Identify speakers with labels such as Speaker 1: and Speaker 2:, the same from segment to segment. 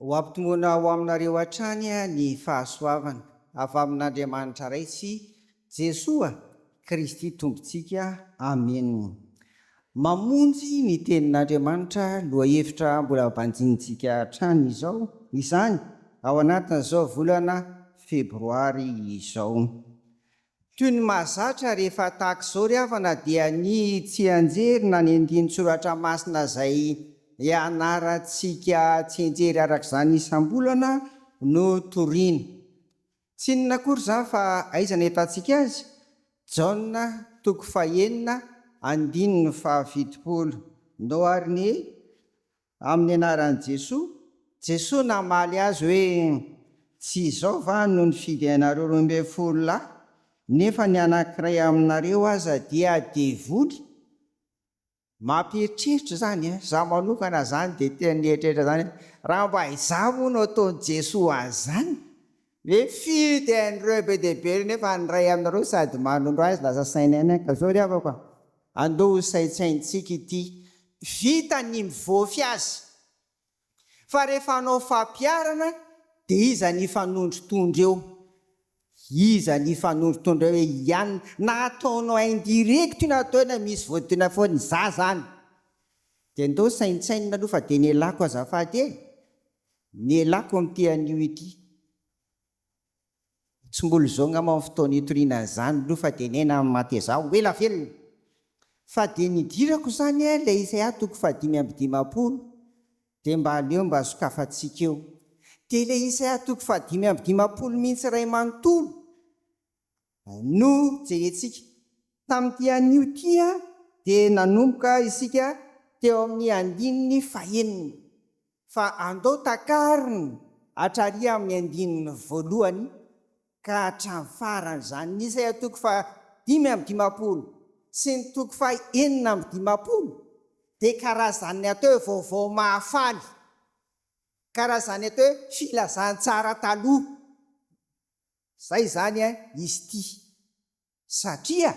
Speaker 1: Ho ampitomboina ho aminareo hatrany ny fahasoavana avy amin'Andriamanitra Ray sy Jesoa Kristy Tompontsika. Amena. Mamonjy ny Tenin'Andriamanitra lohahevitra mbola banjinintsika hatrany izao izany ao anatin'izao volana febroary izao. Toy ny mahazatra rehefa tahaka izao ry havana dia ny tsianjery na ny andinin-tsoratra masina izay ianarantsika tsianjery araka izany isam-bolana no toriana. Tsy inona akory izany fa aiza no ahitantsika azy? Jaona toko fahenina andininy fahafitopolo. Noharin'i. Amin'ny anaran'i Jesoa, Jesoa namaly azy hoe, Tsy izao va no nifidy ianareo roa ambin'ny folo lahy, nefa ny anankiray aminareo aza dia devoly? Mampieritreritra izany an! Izaho manokana izany dia tena nieritreritra izany hoe, raha mba izaho moa no ataon'i Jesoa an'izany, Ve firy dia hain'ireo be dia be ireo nefa ny iray aminareo sady manondro azy lasa saina ihany ka zao ry havako a! Andao ho saintsaintsika ity vita ny mivofy azy fa rehefa hanao fampiharana dia iza ny hifanondrotondro eo? Iza ny hifanondrotondro eo hiany na ataonao indirect io na atao hoe na misy vodina foana izaho izany dia ndao saintsainina aloha fa dia ny ialako azafady e! Nialako amin'ity anio ity. Tsy mbola izao angamba ny fotoana hitoriana an'izany aloha fa dia niaina amin'ny maty ezaho, ho ela velona! Fa dia nidirako izany eh, ilay Isaia toko fahadimy amby dimampolo, dia mba aleo mba sokafantsika eo. Dia ilay Isaia toko fahadimy amby dimampolo mihitsy iray manontolo! no jerentsika. Tamin'ity anio ity dia nanomboka isika teo amin'ny andininy fahenina fa andao takarina hatrary amin'ny andininy voalohany ka hatramin'ny farany izany ny isaya toko faha dimy amby dimampolo sy ny toko faha enina amby dimampolo dia karazan'ny atao hoe vaovao mahafaly, karazan'ny atao hoe filazantsara taloha. Zay izany eh izy ity satria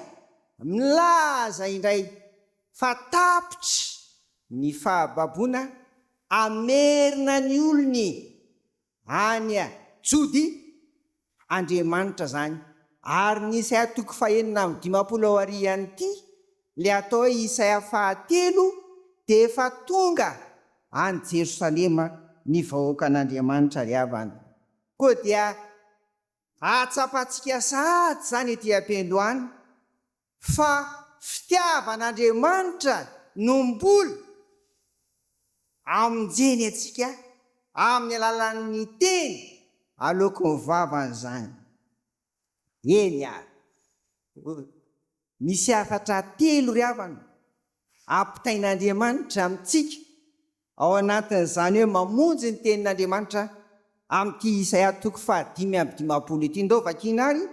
Speaker 1: milaza indray fa tapitra ny fahababoana hamerina ny olony any Jody Andriamanitra zany ary ny Isaiah toko fahenina amby dimampolo aorian ity le atao hoe Isaiah fahatelo de efa tonga any Jerosalema ny vahoakan Andriamanitra ry havana. Koa dia ahatsapantsika sahady izany ety am-pendo any fa fitiavan'Andriamanitra no mbola amonjeny antsika amin'ny alalan'ny teny aloaky ny vavany izany. Eny ary, misy hafatra telo ry havana ampitain'Andriamanitra amintsika Ao anatin'izany hoe mamonjy ny Tenin'Andriamanitra amin'ity Isaia toko fahadimy amby dimampolo ity. Ndao vakiana ary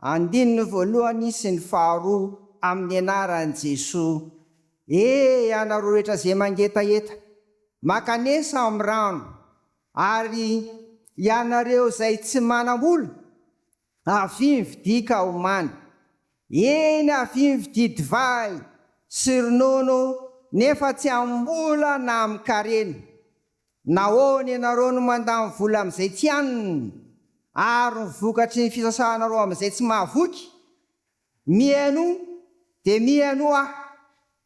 Speaker 1: andininy voalohany sy ny faharoa amin'ny anaran'i Jesoa, E ianareo rehetra izay mangetaheta, mankanesa amin'ny rano, ary ianareo izay tsy manam-bola, Avia mividia kaomany. Eny avia mividia divay sy ronono nefa tsy amim-bola na amin-karena. Nahoana ianareo no mandany vola amin'izay tsy aniny ary ny vokatry ny fisasahanareo amin'izay tsy mahavoky? Mihainoa dia mihainoa aho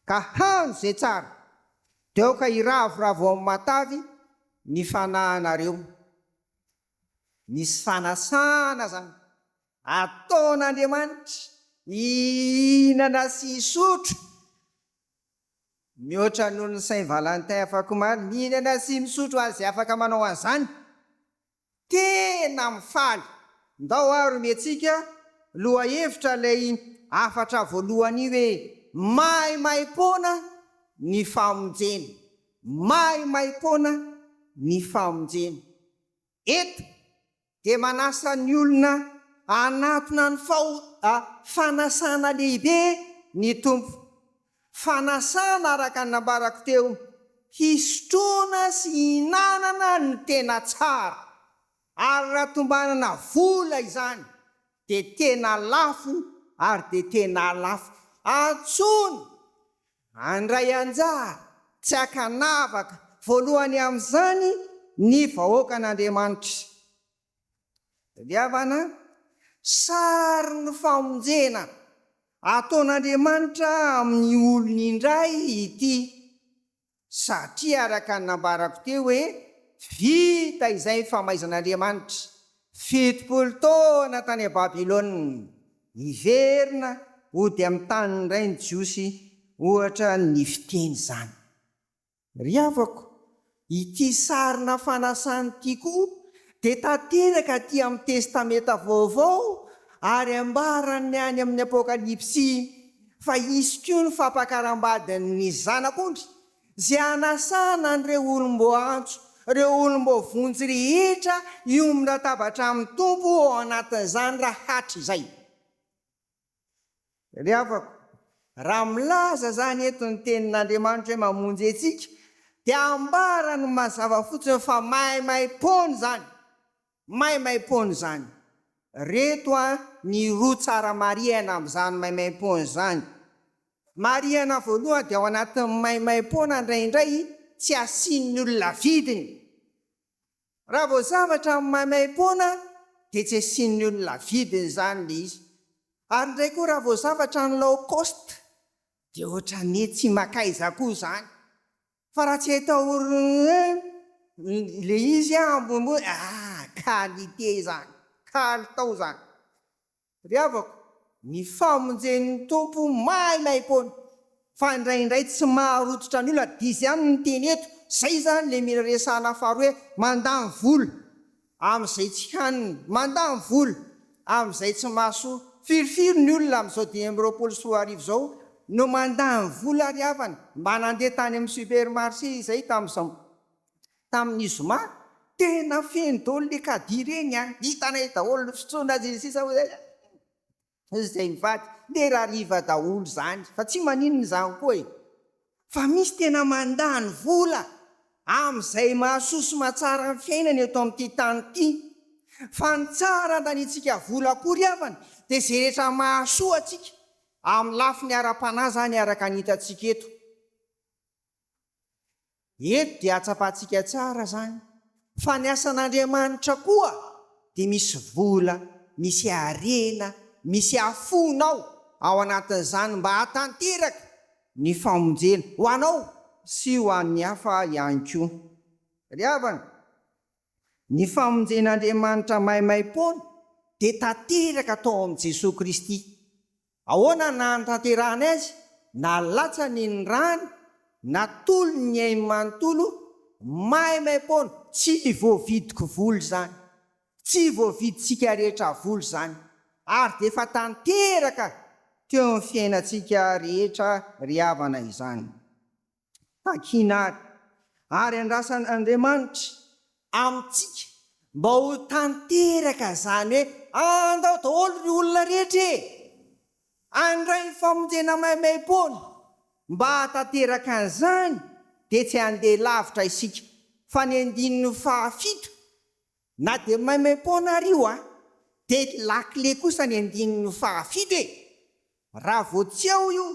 Speaker 1: ka hano izay tsara dia aoka hiravoravo ao amin'ny matavy ny fanahinareo. Misy fanasana izany. Ataon'Andriamanitra hihinana sy hisotro mihoatra noho ny Saint Valentin afakomaly. Mihinana sy misotro azy afaka manao an'izany. Tena mifaly. Ndao ary omentsika lohahevitra ilay hafatra voalohany hoe maimaimpoana ny famonjena. Maimaimpoana ny famonjena. Eto dia manasa ny olona hanatona ny fanasana lehibe ny Tompo. Fanasana araka ny nambarako teo, hisotroana sy hihinanana ny tena tsara. Ary raha tombanana vola izany dia tena lafo ary dia tena lafo antsony Handray anjara tsy an-kanavaka voalohany amin'izany ny vahoakan'Andriamanitra. Tadiavana, Sarin'ny famonjena ataon'Andriamanitra amin'ny olony indray ity, satria araka ny nambarako teo hoe vita izay ny famaizan'Andriamanitra fitopolo taona tany Babylona. Hiverina hody amin'ny taniny indray ny Jiosy, ohatra ny fiteny izany. Ry havako, ity sarina fanasana ity koa dia tanteraka aty amin'ny Testamenta Vaovao ary ambaran'ny any amin'ny Apokalypsy fa hisy koa ny fampakaram-badin'ny Zanak'ondry Izay hanasana an'ireo olom-boaantso, ireo olom-boavonjy rehetra hiombon-databatra amin'ny Tompo ao anatin'izany raha hatrizay. Ry havako, raha milaza izany eto ny Tenin'Andriamanitra hoe mamonjy antsika, dia ambarany mazava fotsiny fa maimaim-poana izany. Maimaimpoana izany. Reto a ny roa tsara marihana amin'izany maimaimpoana izany. Marihana voalohany dia ao anatin'ny maimaimpoana indraindray tsy asian'ny olona vidiny. Raha vao zavatra amin'ny maimaimpoana dia tsy asian'ny olona vidiny izany ilay izy. Ary indray koa raha vao zavatra any low cost dia ohatran'ny hoe tsy makaiza koa izany. Fa raha tsy ataorin'ny le izy a ambonimbony ah qualité izany kalitao izany ry havako ny famonjen'ny Tompo maimaimpoana fa indraindray tsy maharototra ny olona dia izay ihany ny teny eto izay izany le mila resahana faharoa hoe mandany vola Amin'izay tsy hanina, mandany vola, amin'izay tsy mahasoa, firifiry ny olona amin'izao dimy amby roapolo sy roa arivo izao no mandany vola ary havana mba nandeha tany amin'ny supermarché izay tamin'izao tamin'ny zoma, tena feno daholo le caddie ireny an, hitanay daholo ny fitsondrany sy ny sisa hoy izy. Izay mivady dia rariva daholo izany fa tsy maninona izany koa e! Fa misy tena mandany vola amin'izay mahasoa sy mahatsara ny fiainana eto amin'ity tany ity. Fa ny tsara andanintsika vola akory havana dia izay rehetra mahasoa antsika amin'ny lafiny ara-panahy izany araka ny hitantsika eto. Eto dia hatsapantsika tsara izany fa ny asan'Andriamanitra koa dia misy vola, misy harena, misy hafona ao ao anatin'izany mba hahatanteraka ny famonjena ho anao sy ho an'ny hafa ihany koa. Ry havana, ny famonjen'Andriamanitra maimaim-poana dia tanteraka tao amin'i Jesoa Kristy. Ahoana ny nahatanterahany azy? Nalatsany ny rany, natolony ny ainy manontolo, maimaim-poana. Tsy voavidiko vola izany. Tsy voavidintsika rehetra vola izany. Ary dia efa tanteraka teo amin'ny fiainantsika rehetra ry havana izany. takiana ary, ary andrasan' Andriamanitra amintsika mba ho tanteraka izany hoe, Andao daholo ry olona rehetra e! Handray ny famonjena maimaim-poana. Mba hahatanteraka an'izany dia tsy handeha lavitra isika fa ny andininy fahafito Na dia maimaim-poana ary io an! Dia lakile kosa ny andininy faha fito e! Raha vao tsy ao io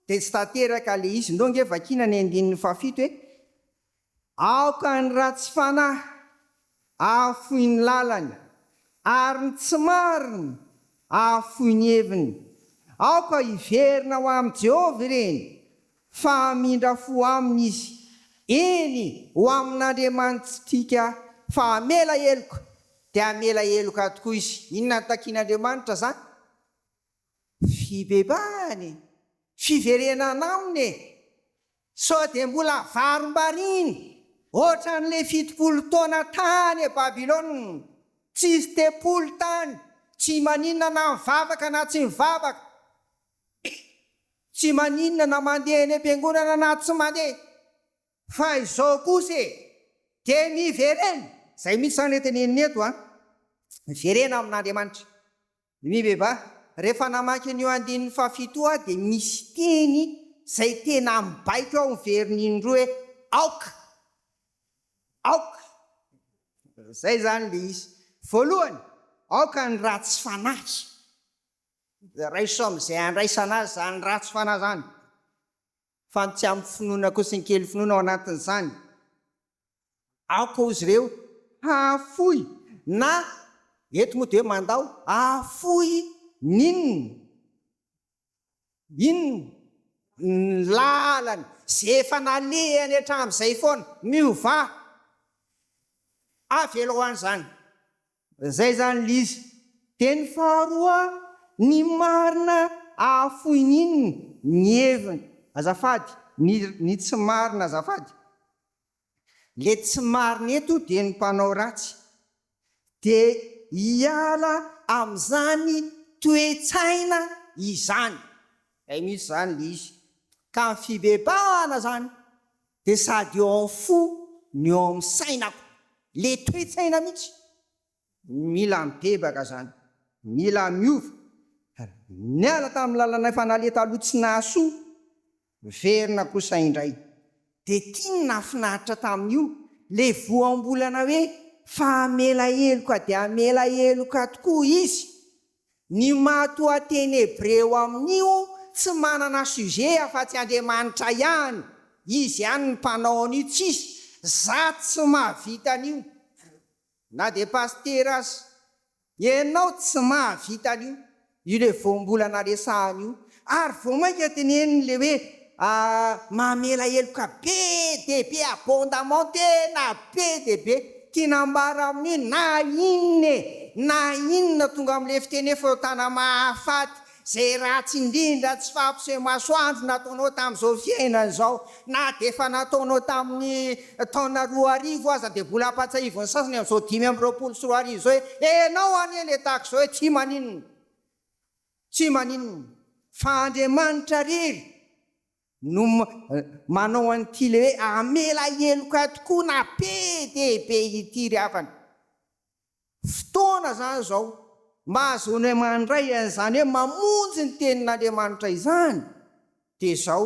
Speaker 1: dia tsy tanteraka le izy, ndao nge vakiana ny andininy faha fito e! Aoka ny ratsy fanahy ahafoy ny lalany, ary ny tsy marina ahafoy ny heviny. Aoka hiverina ho amin'i Jehovah ireny, fa hamindra fo aminy izy, eny, ho amin'Andriamanitsika, fa hamela heloka, dia hamela heloka tokoa izy. Inona no takin'Andriamanitra izany? Fibebahana e! Fiverenana aminy e! Sao dia mbola havarimbariany hoatran'ilay fitopolo taona tany Babylona, tsisy tempoly tany, tsy maninona na mivavaka na tsy mivavaka, Tsy maninona na mandeha eny am-piangonana na tsy mandeha. Fa izao kosa e! Dia miverena! Izay mihitsy izany ilay teneniny eto an! Miverena amin'Andriamanitra. Ny vehivahy, rehefa namaky an'io andininy fahafito io aho dia misy teny izay tena mibaiko aho miverina indroa hoe aoka! Aoka! Izay izany ilay izy. Voalohany, aoka ny ratsy fanahy. Raiso amin'izay andraisana azy izany ratsy fanahy izany, fa ny tsy amin'ny finoana koa sy ny kely finoana ao anatin'izany. Aoka hozy ireo hahafoy na, eto moa dia hoe mandao, hahafoy ny inona? Inona? Ny lalany izay efa nalehany hatramin'izay foana. Miovà! Avelao an'izany. Zay zany lzy teny faharoa ny marina ahafoiny inn ny heviny azafady ny ny tsy marina azafady le tsy marina eto de ny mpanao ratsy de hiala amzany toetsaina izany zay mitsy zany lzy ka ny fibebahana zany dia sady eo amin'ny fo no eo amin'ny sainako, le toe-tsaina mihitsy, mila mibebaka zany, mila miova, niala tamin'ny lalanay efa naleha taloha tsy nahasoa, miverina kosa indray, dia ity no nahafinaritra tamin'io, le voambolana hoe fa hamela heloka dia hamela heloka tokoa izy, Ny matoa teny hebreo amin'io tsy manana sujet afa-tsy Andriamanitra ihany, izy ihany ny mpanao an'io tsisy za tsy mahavita an'io na dia pasitera aza, ianao tsy mahavita an'io, io le voambolana resahana io, Ary vao mainka teneniny ilay hoe mamela heloka be dia be abondamment tena be dia be. Tiany ambara amin'ny hoe na inona e, na inona tonga amin'ilay fiteny hoe fahotana mahafaty, izay ratsy indrindra tsy fahampiseho-masoandro nataonao tamin'izao fiainana izao, na dia efa nataonao tamin'ny taona roa arivo aza dia mbola ampahatsiahivin'ny sasany amin'izao dimy amby roapolo sy roa arivo izao hoe enao anie ilay tahaka izao e, tsy maninona. Tsy maninona fa Andriamanitra rery no manao an'ity le hoe hamela heloka tokoa na be dia be ity ry havana. Fotoana izany izao mba ahazoanay mandray an'izany hoe mamonjy ny tenin'Andriamanitra izany dia izao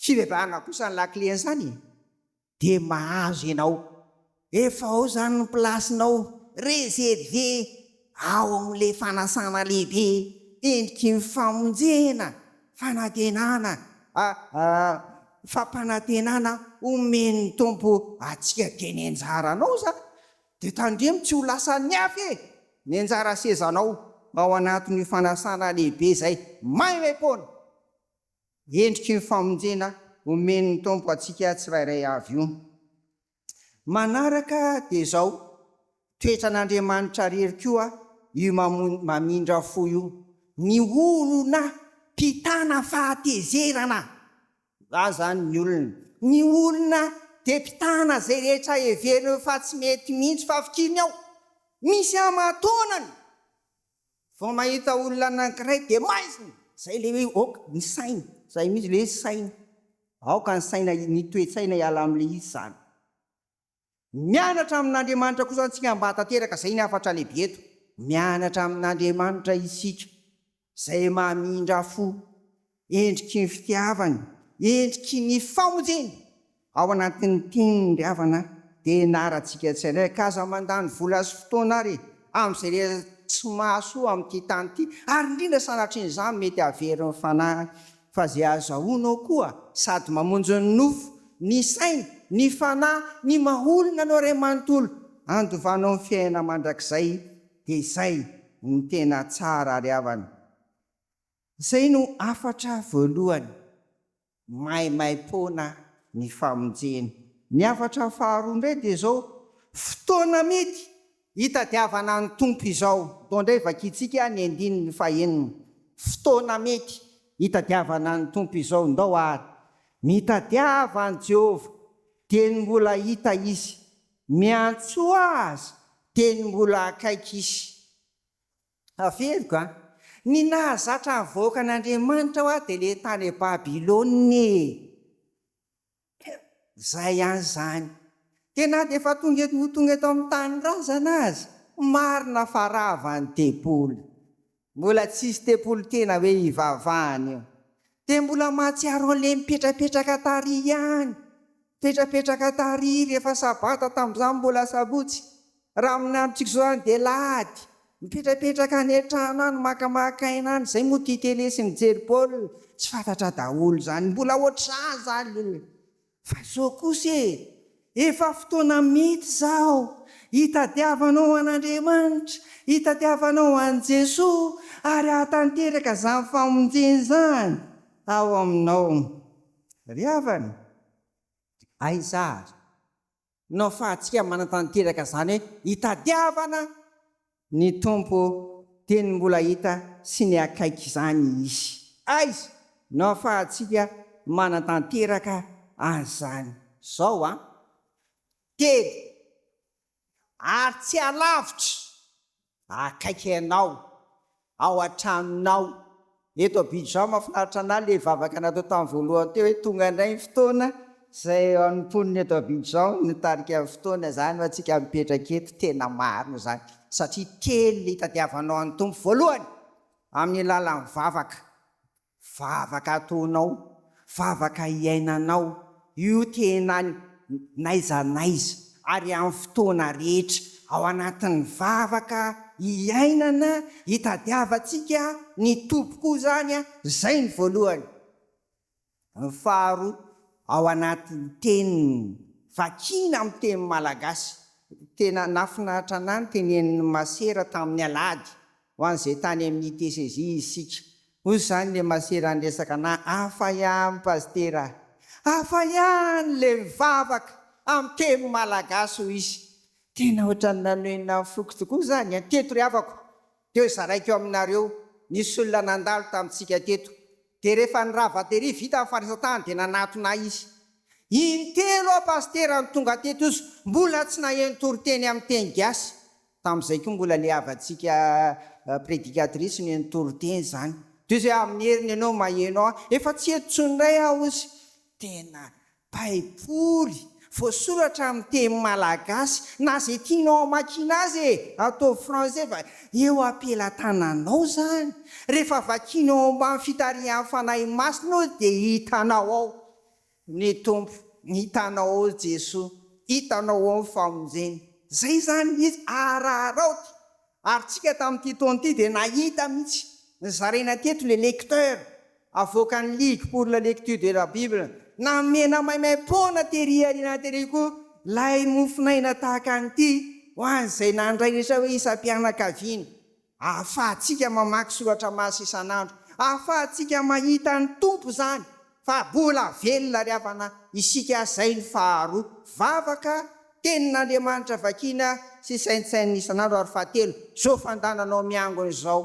Speaker 1: fibebahana kosa ny lakilen'izany e. Dia mahazo ianao. Efa ao izany ny plasinao. Reservé ao amin'ilay fanasana lehibe endriky ny famonjena, fanantenana, fampanantenana omen'ny Tompo antsika dia ny anjaranao izany. Dia tandremo tsy ho lasan'ny hafa e! Ny anjara sezanao ao anatin'io fanasana lehibe izay maimaim-poana. endriky ny famonjena omen'ny Tompo antsika tsirairay avy io. Manaraka dia izao, toetran'Andriamanitra rery koa io mamindra fo io, ny olona mpitana fahatezerana, za zany ny olona, ny olona dia mpitana izay rehetra heverinao fa tsy mety mihitsy fa fikiriny ao, misy aman-taonany, Vao mahita olona anankiray dia maizina! Izay ilay hoe aoka ny saina. Izay mihitsy ilay hoe saina. Aoka ny saina, ny toe-tsaina hiala amin'ilay izy izany. Mianatra amin'Andriamanitra kosa isika mba hahatanteraka izay ny hafatra lehibe eto. Mianatra amin'Andriamanitra isika, izay mamindra fo. Endriky ny fitiavany, endriky ny famonjeny. Ao anatin'ny tiany ry havana dia ianarantsika tsindraika aza mandany vola sy fotoana ary amin'izay rehetra tsy mahasoa amin'ity tany ity ary indrindra sanatrian'izany mety hahavery ny fanahy fa izay azahoanao koa sady mamonjy ny nofo, ny saina, ny fanahy, ny maha olona anao Ray manontolo handovanao ny fiainana mandrakizay dia izay no tena tsara ry havana. Izay no hafatra voalohany maimaim-poana ny famonjena. Ny hafatra faharoa indray dia izao, fotoana mety hitadiavana ny Tompo izao. Atao indray vakintsika ny andininy fahenina, fotoana mety hitadiavana ny Tompo izao. Ndao àry mitadiava an'i Jehovah dieny mbola hita izy, miantsoa azy dieny mbola akaiky izy. Averiko an! Ny nahazatra havoaka an' Andriamanitra hoa dia le tany Babylona e! Zay ihany zany! Dia na dia efa tonga eto ho tonga eto amin'ny tanindrazana aza, marina fa rava ny tempoly. Mbola tsisy tempoly tena hoe hivavahana io. Dia mbola mahatsiaro an'ilay mipetrapetraka tary ihany. Mipetrapetraka tary rehefa sabata, tamin'izaho mbola asabotsy. Raha amin'ny androntsika izao any dia lahady. Mipetrapetraka any an-trano any, makamaka aina any, izay moa tia tele sy mijery baolina. Tsy fantatra daholo izany. Mbola ohatr'izany izany. Fa zao kosa e! Efa fotoana mity izao hitadiavanao an'Andriamanitra, hitadiavanao an'i Jesoa ary hahatanteraka izany famonjena izany ao aminao. Ry havana, aiza ary? no afahantsika manatanteraka izany hoe hitadiavana ny Tompo dia ny mbola hita sy ny akaiky izany Izy. Aiza no afahantsika manatanteraka an'izany? Izao an, telo ary tsy alavitra. akaiky anao ao an-tranonao. Eto Abidjan mahafinaritra an'ahy ilay vavaka natao tamin'ny voalohany teo hoe tonga indray ny fotoana izay ho an'ny mponina eto Abidjan ny nitarika ny fotoana izany ho antsika mipetraka eto. Tena marina izany satria kely ny hitadiavanao an'ny Tompo voalohany amin'ny lalan'ny vavaka. Vavaka ataonao, vavaka iainanao io tena n'aiza n'aiza ary amin'ny fotoana rehetra. Ao anatin'ny vavaka iainana itadiavantsika ny Tompo koa izany, izay ny voalohany. Ny faharoa, ao anatin'ny teniny, vakiana amin'ny teny malagasy. Tena nahafinaritra an'ahy ny tenenin'ny masera tamin'ny alahady ho an'izay tany amin'ny disezy isika. Hoy izany le masera niresaka anah, hafa ihany pasitera ah, hafa ihany le mivavaka amin'ny teny malagasy hoy izy. Tena ohatran'ny nanohina ny foko tokoa izany an! Teto ry havako teo zaraiko aminareo, nisy olona nandalo tamintsika teto, dia rehefa ny rava tery vita ny fandraisan-tany dia nanatona ahy izy, intelo aho pasitera no tonga teto, izy mbola tsy naheno toriteny amin'ny teny gasy. Tamin'izay koa mbola le havantsika prédicatrice no eny toriteny zany. Tohizo hoe amin'ny heriny ianao maheno ahy. Efa tsy eto intsony indray aho hozy. Tena baiboly voasoratra amin'ny teny malagasy na izay tianao hamakiana azy e! Ataovy français fa eo am-pelatananao izany. Rehefa vakianao ao ambany fitarihan'ny Fanahy Masina io dia hitanao ao. Ny Tompo, ny hitanao ao Jesoa, hitanao ao ny famonjena. Zay zany mihitsy araharao ty ary tsika tamin'ity taona ity dia nahita mihitsy nizaraina teto le lecteur avoakan'ny ligue pour la lecture de la bible namena maimaimpoana tery aoriana tery koa lay mofon'aina tahaka an'ity ho an'izay nandray rehetra hoe isam-pianakaviana Ahafahantsika mamaky soratra masina isan'andro. Ahafahantsika mahita ny Tompo izany fa mbola velona ry havana isika izay ny faharoa. Vavaka, tenin'Andriamanitra vakiana sy saintsainina isan'andro ary fahatelo, izao fandananao miangona izao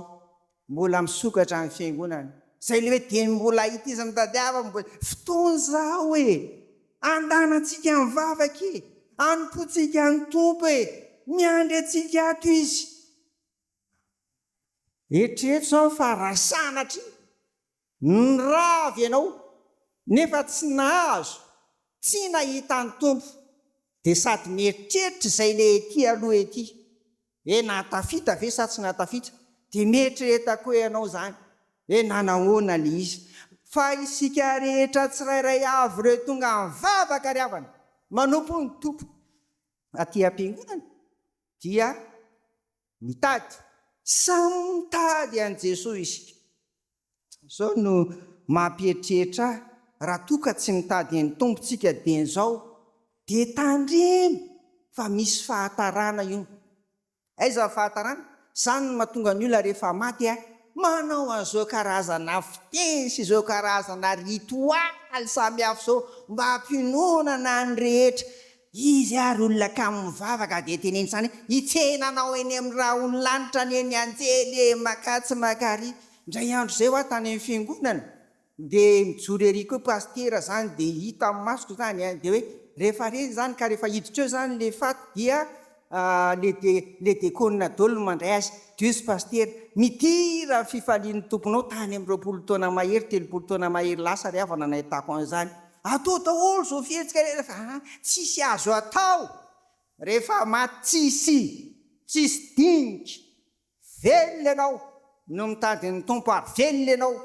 Speaker 1: mbola misokatra ny fiangonana. Izay ilay hoe dia mbola ity izy mitadiava mbola fotoana izao e! Andanantsika ny vavaka e! Anompoantsika ny Tompo e! Miandry antsika ato Izy. Eritrereto zao fa raha sanatria nirava ianao nefa tsy nahazo, tsy nahita ny Tompo dia sady mieritreritra izay le ety aloha ety hoe nahatafita ve sa tsy nahatafita dia mieritrereta koa ianao izany hoe nanahoana le izy fa isika rehetra tsirairay avy ireo tonga mivavaka ry havana manompo ny Tompo aty am-piangonana dia mitady. Samy mitady an'i Jesoa isika. Izao no mampieritreritra ahy, raha toa ka tsy mitady an'i Tompo tsika dian'izao dia tandremo fa misy fahatarana io. Aiza ny fahatarana? Izany no mahatonga ny olona rehefa maty a, manao an'izao karazana fiteny sy izao karazana ritoaly samihafa izao mba hampiononana ny rehetra Izy ary olona kamo mivavaka dia teneniny izany hoe, Hitsena anao eny amin'ny rahon'ny lanitra anie ny anjely e! Makà tsy makà ary! Indray andro izay ho aho tany amin'ny fiangonana, dia mijoro ery koa pasitera izany dia hita amin'ny masoko izany dia hoe rehefa re izany ka rehefa hiditra eo izany ilay faty dia le de le de kônina dôly no mandray azy Dios Pasitera mitira fifalian'ny Tomponao tany amin'ny roapolo taona mahery telopolo taona mahery lasa ry havana nahitako an'izany atao daholo zao fihetsika rehefa a tsisy azo atao rehefa maty tsisy tsisy dinika velona ianao no mitady ny Tompo ary velona ianao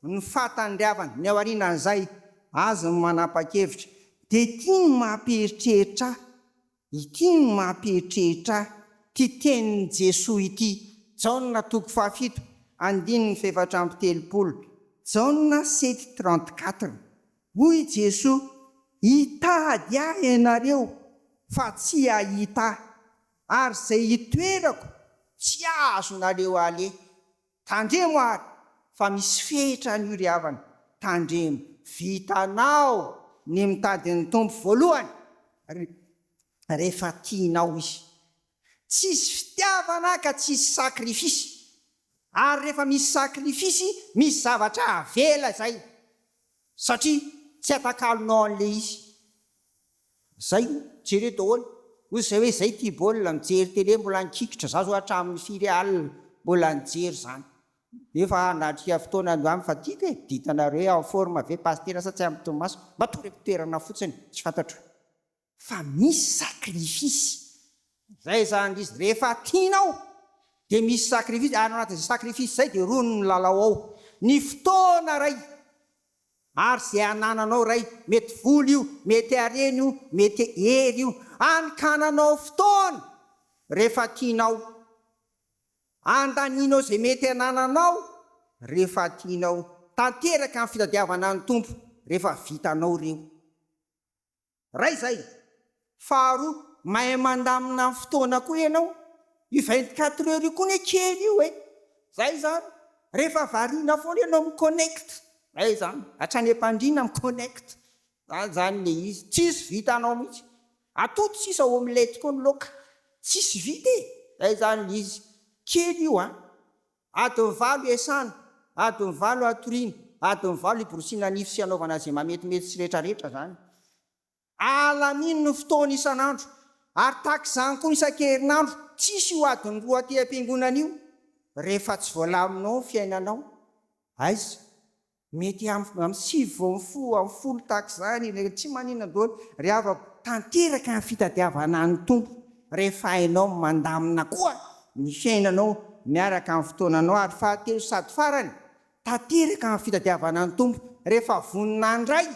Speaker 1: ny fahatandriavana ny aorianan'izay azy ny manapakevitra de ty no mampieritreritra ahy. Ity no mampihetrehitra ahy, ity tenin'i Jesoa ity, Jaona toko fahafito, andininy fahefatra amby telopolo, Jaona sept trente quatre, Hoy Jesoa, Hitady Ahy ianareo, fa tsy hahita Ahy, ary izay hitoerako, tsy azonareo aleha. Tandremo ary fa misy fehitra an'io ry havana, tandremo, vitanao ny mitady ny Tompo voalohany ry rehefa tianao Izy. Tsisy fitiavana ka tsisy sakrifisy, ary rehefa misy sakrifisy misy zavatra avela izay satria tsy atakalonao an'ilay izy. Zay, jereo daholo. Ozy zay hoe zay tia baolina, mijery télé mbola nikikitra, za zao hatramin'ny firy alina mbola nijery zany. Nefa nahatrika fotoana handeha any fa tiako e, ditanareo hoe en forme ve Pasitera sa tsy ampy tomaso? Mba toreko toerana fotsiny, tsy fantatro. Fa misy sacrifice. Zay zany izy, rehefa tianao dia misy sacrifice, ary ao anatin'izay sacrifice izay dia rony ny lalao ao. Ny fotoana ray. Maro izay anananao Ray, mety vola io, mety harena io, mety hery io, hany ka ananao fotoana rehefa tianao, andanianao izay mety anananao rehefa tianao, tanteraka ny fitadiavana ny Tompo rehefa vitanao ireo. Iray izay. Faharoa, mahay mandamina ny fotoana koa ianao. Io vingt quatre heures io koa anie kely io e! Izay izany. Rehefa variana foana ianao mi-connect. Izay izany. Hatrany am-pandriana mi-connect. Izany izany ilay izy. Tsisy vitanao mihitsy. Atody sisa omelette koa ny laoka. Tsisy vita e! Izay izany ilay izy. Kely io an! Adiny valo iasana, adiny valo atoriana, adiny valo iborosiana nify sy anaovana izay mametimety sy retraretra izany. Alamino ny fotoana isan'andro ary tahaka izany koa isan-kerinandro, tsisy io adiny roa aty am-piangonana io. Rehefa tsy voalaminao ny fiainanao, aiza Mety amin'ny amin'ny sivy vao mifoha amin'ny folo tahaka izany ilay tsy maninona daholo ry havako. Tanteraka ny fitadiavana an'ny Tompo rehefa hainao mandamina koa ny fiainanao miaraka amin'ny fotoananao ary fahatelo sady farany, tanteraka ny fitadiavana an'ny Tompo rehefa vonona handray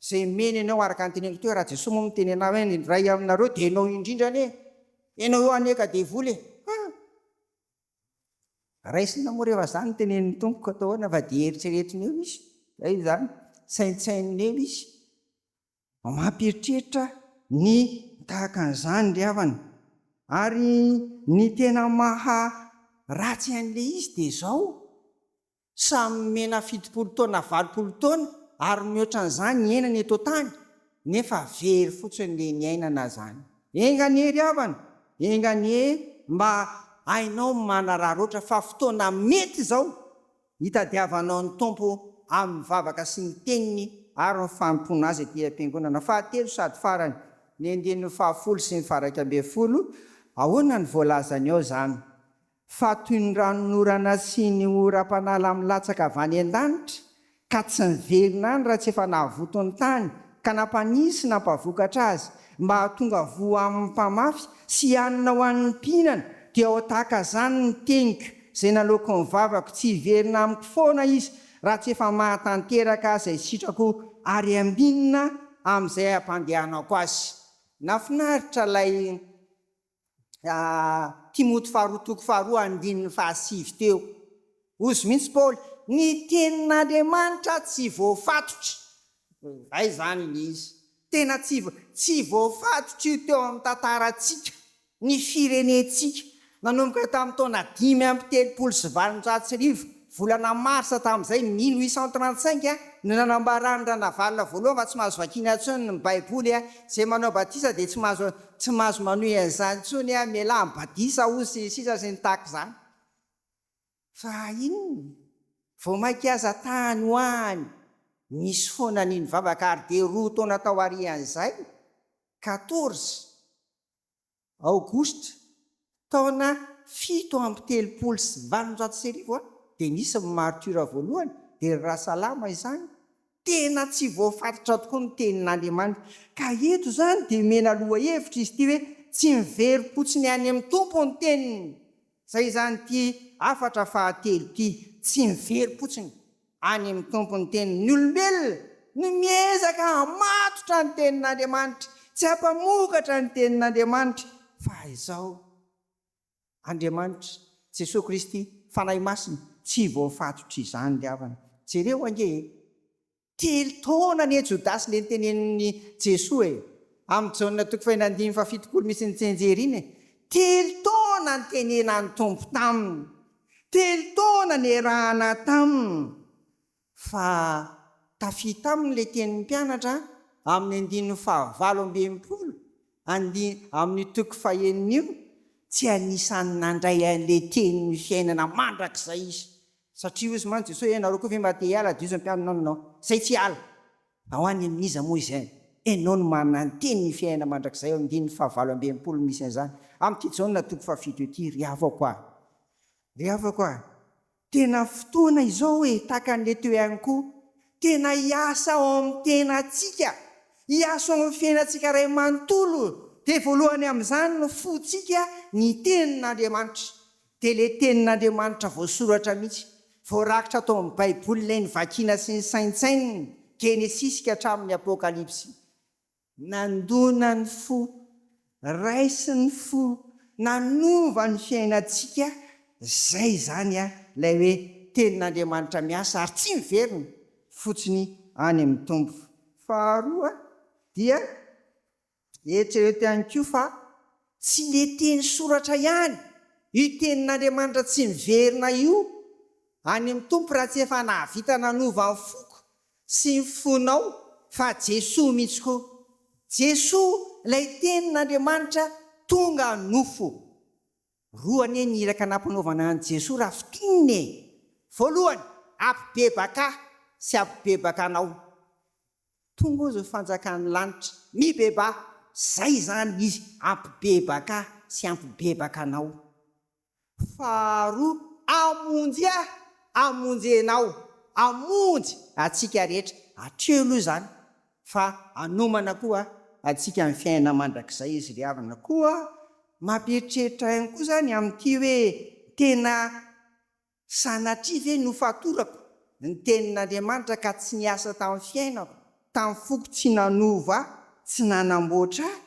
Speaker 1: izay omeny anao araka ny teneniko teo raha Jesoa moa miteny anao hoe ny iray aminareo dia ianao indrindra anie ianao eo anie ka devoly e! Raisina moa rehefa zany ny tenenin'ny Tompo ka atao ahoana fa dia eritreretiny eo izy, zay izany, saintsaininy eo izy, mampieritreritra ny tahaka an'izany ry havana. Ary ny tena maha ratsy an'ilay izy dia izao, Samy nomena fitopolo taona valopolo taona ary mihoatra an'izany hiainana eto an-tany nefa very fotsiny le niainana zany. Enga anie ry havana, enga anie mba hainao manararaotra fa fotoana mety izao hitadiavanao ny Tompo amin'ny vavaka sy ny teniny ary ny fanompoana Azy aty am-piangonana fahatelo sady farany, ny andininy fahafolo sy ny faraika ambin'ny folo, ahoana ny voalazany ao zany? fa toy ny ranonorana sy ny oram-panala milatsaka avy any an-danitra, ka tsy niverina any raha tsy efa nahavoto ny tany, ka nampanisy nampavokatra azy, mba hahatonga voa amin' ny mpamafy, sy hanina ho an' ny mpihinana, dia ho tahaka izany ny teniko, izay naloako ny vavako, tsy hiverina amiko foana izy, raha tsy efa mahatanteraka izay sitrako, ary haminina amin' izay hampandehanako azy. Nahafinaritra ilay. Timoty faharoa toko faharoa andininy fahasivy teo. Hozy mihitsy Paoly, Ny tenin'Andriamanitra tsy voafatotra. Izay izany ilay izy. Tena tsy tsy voafatotra io teo amin'ny tantarantsika, ny firenentsika, nanomboka tamin'ny taona dimy amby telopolo sy valonjato sy arivo Volana marsa tamin'izay, mino isan trantsinq no nanambaran'i Ranavalona voalohany fa tsy mahazo vakiana intsony ny baiboly, izay manao batisa dia tsy mahazo tsy mahazo manohy an'izany intsony, mialà amin'ny badisa hozy sy ny sisa sy ny tahaka izany. Fa inona? Vao mainka aza tany ho any nisy foana ny nivavaka ary dia roa taona tao aorian'izay, quatorze, Aogositra, taona fito amby telopolo sy valonjato sy arivo dia nisy ny martyrs voalohany, dia ry Rasalama izany, tena tsy voafaritra tokoa ny tenin'Andriamanitra, ka eto izany dia omena lohahevitra izy ity hoe tsy miverim-potsiny any amin'ny Tompo ny teniny, izay izany ity hafatra fahatelo ity, tsy miverim-potsiny. Any amin'ny Tompo ny tenin'ny olombelona no miezaka hamatotra ny tenin'Andriamanitra sy hampamokatra ny tenin'Andriamanitra fa izao, Andriamanitra, Jesoa Kristy, Fanahy Masina, tsy voafatotr'izany ry havana. Jereo ange e! Telo taona anie Jodasy le nitenenin'i Jesoa e! Amin'ny Jaona toko fahenina andimby faha fitopolo misy ny tsenjery iny e! Telo taona nitenenan'ny Tompo taminy Telo taona niarahana taminy fa tafita aminy ilay tenin'ny mpianatra amin'ny andininy fahavalo amby enimpolo amin'io toko fahenina io, tsy anisan'ny nandray an'ilay tenin'ny fiainana mandrakizay izy, satria hoy mantsy Jesoa, ianareo koa ve mba te hiala? Dia hoy izy, Mpampianatra, izay tsy hiala. Fa ho any amin'iza moa izay? Enao no mananteny ny fiainana mandrakizay ao andininy fahavalo amby enimpolo no misy an'izany. Amin'ity Jaona toko fahafito ity, ry havako a! Ry havako a! Tena fotoana izao e! Tahaka an'i Leto ihany koa, tena hiasa ao amin'ny tenantsika, hiasa ao amin'ny fiainantsika iray manontolo, dia voalohany amin'izany ny fontsika, ny Tenin'Andriamanitra. Dia ilay tenin'Andriamanitra voasoratra mihitsy, voarakitra tao amin'ny Baiboly ilay novakiana sy nosaintsainina, Genesisy ka hatramin'ny Apokalypsy. Nandona ny fo, raisin'ny fo, nanova ny fiainantsika, izay izany ilay hoe tenin'Andriamanitra miasa ary tsy miverina fotsiny any amin'ny Tompo. Faharoa dia. Eritrereto ihany koa fa tsy ilay teny soratra ihany, io Tenin'Andriamanitra tsy miverina io, any amin'ny Tompo raha tsy efa nahavita nanova ny foko sy ny fonao, fa Jesoa mihitsy koa. Jesoa ilay Tenin'Andriamanitra tonga nofo. Roa anie ny iraka nampanaovana an'i Jesoa raha fintinina e! Voalohany, hampibebaka ahy sy hampibebaka anao. Tonga ozo fanjakan'ny lanitra. Mibebaha! Zay izany izy ampibebaka sy ampibebaka anao. Faharoa, Hamonjy ahy hamonjy enao. Hamonjy antsika rehetra. Hatreo aloha izany fa hanomana koa antsika ny fiainana mandrakizay izy ry havana. Koa mampieritreritra ihany koa izany amin'ity hoe tena Sanatria ve nofatorako ny tenin'Andriamanitra ka tsy niasa tamin'ny fiainako, tamin'ny foko tsy nanova ahy, tsy nanamboatra ahy?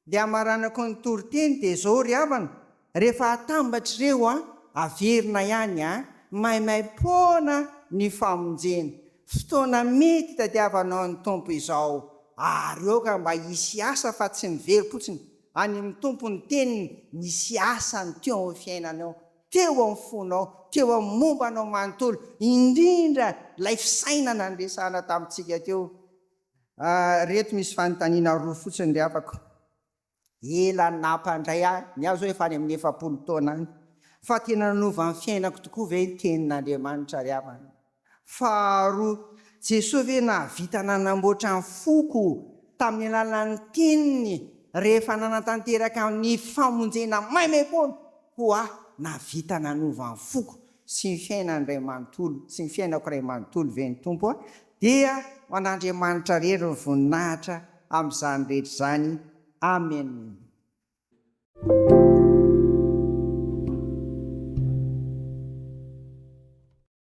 Speaker 1: Ilay hamaranako ny toriteny dia izao ry havana, rehefa atambatra ireo an, averina ihany an, maimaim-poana ny famonjena. Fotoana mety hitadiavanao ny Tompo izao ary aoka mba hisy asa fa tsy miverifpotsiny any amin'ny Tompo ny teniny, misy asa ny teo amin'ny fiainanao. teo amin'ny fonao, teo amin'ny momba anao manontolo, indrindra ilay fisainana niresahana tamintsika teo. Ireto misy fanontaniana roa fotsiny ry havako. Ela nampandray ahy, ny ahy izao efa any amin'ny efapolo taona any, fa tena nanova ny fiainako tokoa ve ny Tenin'Andriamanitra ry havana? Faharoa, Jesoa ve nahavita nanamboatra ny foko tamin'ny alalan'ny teniny rehefa nanatanteraka ny famonjena maimaimpoana? Hoa, nahavita nanova ny foko sy ny fiainany iray manontolo sy ny fiainako iray manontolo ve ny Tompo? Hoa, dia ho an'Andriamanitra irery ny voninahitra amin'izany rehetra izany. Amena.